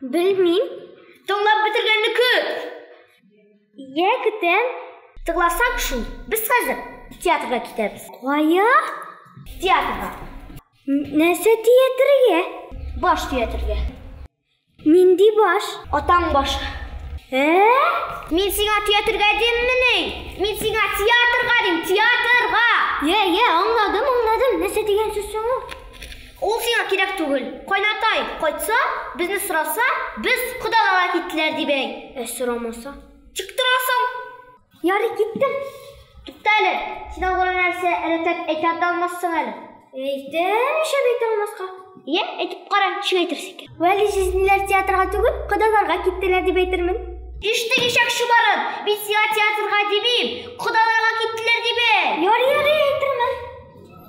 Белмим. Тыңлап бетергәнне көт. Йә, көтәм. Тыңласаң шул. Без хәзер театрга китәбез. Кая? Театрга. Нәрсә театрга? Баш театрга. Нинди баш? Атаң башы. Ә? Мин сиңа театрга диммени? Мин сиңа театрга дим, театрга. Йә, йә, аңладым, аңладым. Нәрсә дигән сүз соң ул? Ул сиңа кирәк түгел. Кайнатай, кайтса, безне сораса, без кодаларга киттеләр дип әйт. Ә сорамаса? Чыктырасың! Ярый, киттем. Тукта әле, син алгыра нәрсә рәтләп әйтә дә алмассың әле. Әйтәм, нишләп әйтә алмаска? Йә, әйтеп кара, ничек әйтерсең икән? Вәли җизниләр театрга түгел, кодаларга киттеләр дип әйтермен. Иштең ишәк чыбарын, мин сиңа театрга димим, кодаларга киттеләр дип әйт! Ярый, ярый, әйтермен.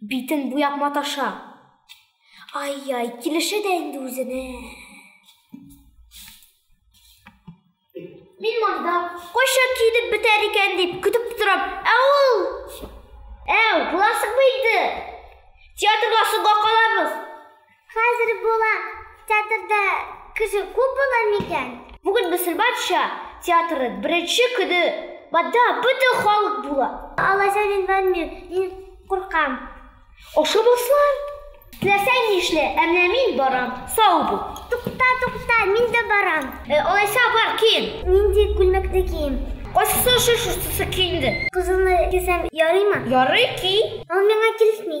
Битен буяп маташа. Ай-яй, килешә дә инде үзенә. Мин монда кайча килеп бетәр икән дип көтеп торам. Ә ул Әү, буласың бит. Театрга соңга калабыз. Хәзер була театрда кеше күп була микән? Бүген Мөселманча театры беренче көне монда бөтен халык була. Алайса мин бармыйм, мин куркам. Ашамаслар. Теләсәң нишлә, ә менә мин барам. Сау бул. Тукта, тукта, мин дә барам. Алайса бар, киен. Нинди күлмәкне кием? Кайсысы шушы, шусы киенде. Кызылны кисәм ярыймы? Ярый, ки. Ул миңа килешми.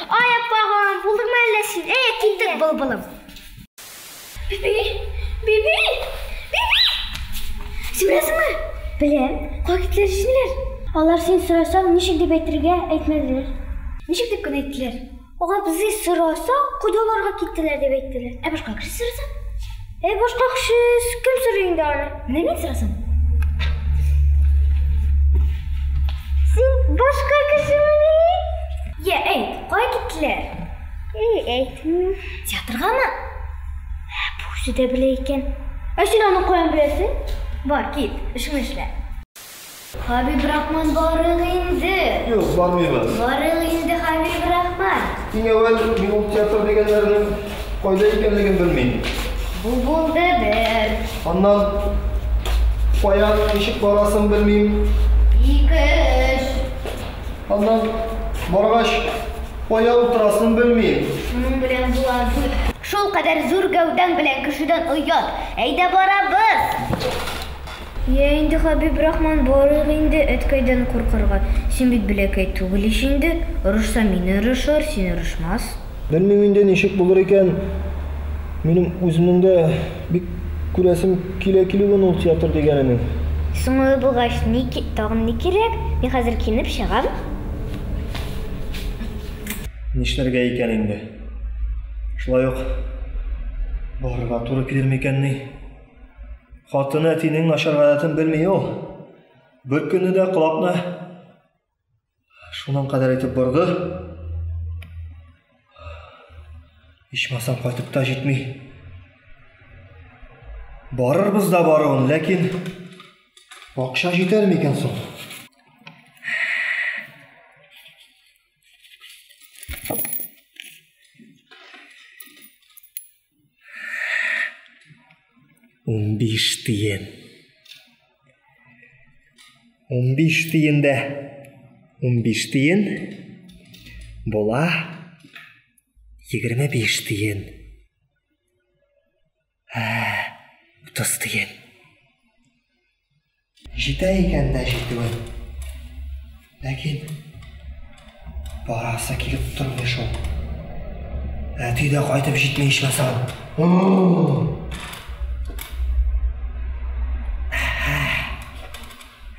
Ай, аппагам, булдыңмы әллә син? Әй, киттек, былбылым. Биби, биби, биби! Син беләсеңме? Беләм. Кая киттеләр җизниләр? Алар син сорасаң, ничек дип әйтергә әйтмәделәр. Ничек дип кенә әйттеләр? Алар безне сораса, кодаларга киттеләр дип әйттеләр. Ә башка кеше сораса? Әй, башка кеше кем сорый инде аны? Менә мин сорасам. Син башка кешемени? Йә, әй, кая киттеләр? Әй, әйтмим. Театргамы? Ә, бу үзе дә белә икән. Ә син аны каян беләсең? Бар, кит, эшеңне эшлә. Хәбибрахман барыйк инде! Юк, бармыйбыз. Барыйк инде, Хәбибрахман! Иң әүвәл, мин ул театр дигәннәрнең кайда икәнлеген белмим. Бу булды бер. Аннан, кая, ничек барасын белмим. Ике, өч. Аннан, баргач, кая утырасын белмим. Шуның белән була дүрт. Шулкадәр зур гәүдәң белән кешедән оят. Әйдә барабыз! Йә инде, Хәбибрахман, барыйк инде, әткәйдән куркырга. Син бит бәләкәй түгел ич инде. Орышса, мине орышыр, син орышмас. Белмим инде, ничек булыр икән. Минем үземнең дә бик күрәсем килә килүен ул театр дигәненең. Соң алай булгач, ни, тагын ни кирәк? Мин хәзер киенеп чыгам. Нишләргә икән инде? Шулай ук барырга туры килер микәнни? Хатыны әтинең начар гадәтен белми ул. Бер көнне дә колакны шуның кадәр итеп борды. Ичмасам кайтып та җитми. Барырбыз да баруын, ләкин акча җитәр микән соң? Унбиш тиен. Унбиш тиен дә. Унбиш тиен. Була. Егерме биш тиен. Ә, утыз тиен. Җитә икән дә җитүе. Ләкин барасы килеп тормый шул. Әти дә кайтып җитми ичмасам.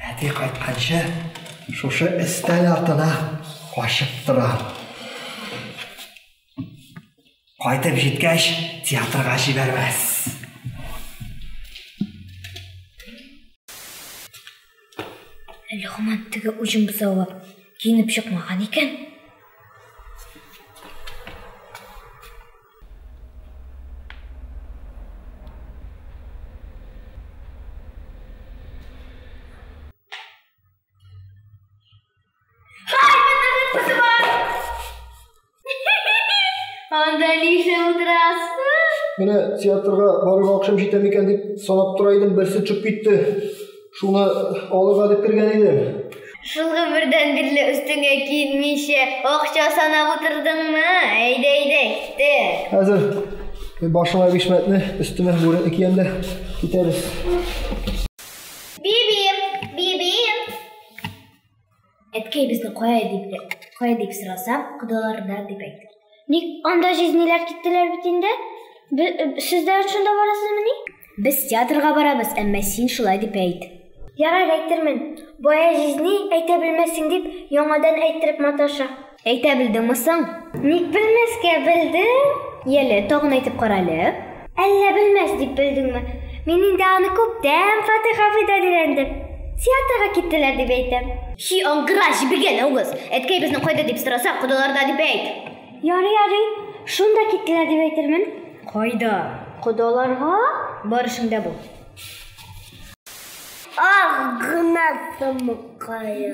Әти кайтканчы шушы өстәл артына качып тора. Кайтып җиткәч, театрга җибәрмәс. Әле хаман теге уҗым бозавы киенеп чыкмаган икән. Анда нишле утырасыз? Менә театрга барырга акшым җитә микән дип санап тора идем, берсе төшеп китте. Шуны алырга дип кергән идем. Шулга бердән бирле өстеңә килмичә акча санап утырдыңмы? Әйдә, әйдә, китте. Хәзер башыма бишмәтне, өстемә бүрек киям дә китәбез. Бибием, бибием. Әткәй безне кая дип, кая дип сораса, кодаларда дип әйтте. Ник анда җизниләр киттеләр бит инде? Сез дә шунда барасызмыни? Без театрга барабыз, әмма син шулай дип әйт. Ярар әйтермен. Бая җизни әйтә белмәссең дип, яңадан әйттереп маташа. Әйтә белдеңме соң? Ник белмәскә, белдем. Яле, тагын әйтеп кара әле. Әллә белмәс дип белдеңме? Мин инде аны күптән Фатих абыйдан өйрәндем. Театрга киттеләр дип әйтәм. Чи, аңгыра, җебегән авыз! Әткәебезне кайда дип сораса, кодаларда дип әйт. Ярый, ярый. Шунда киттеләр дип әйтермен. Кайда? Кодаларга? Бар эшеңдә бул. Ах, гына тымыккае.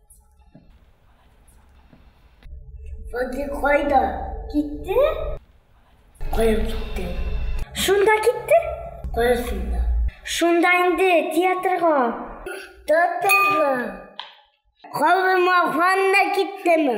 Вади кайда? Китте? Кая китте? Шунда китте? Кая шунда? Шунда инде театрга. Театрга. Калмаган да киттеме?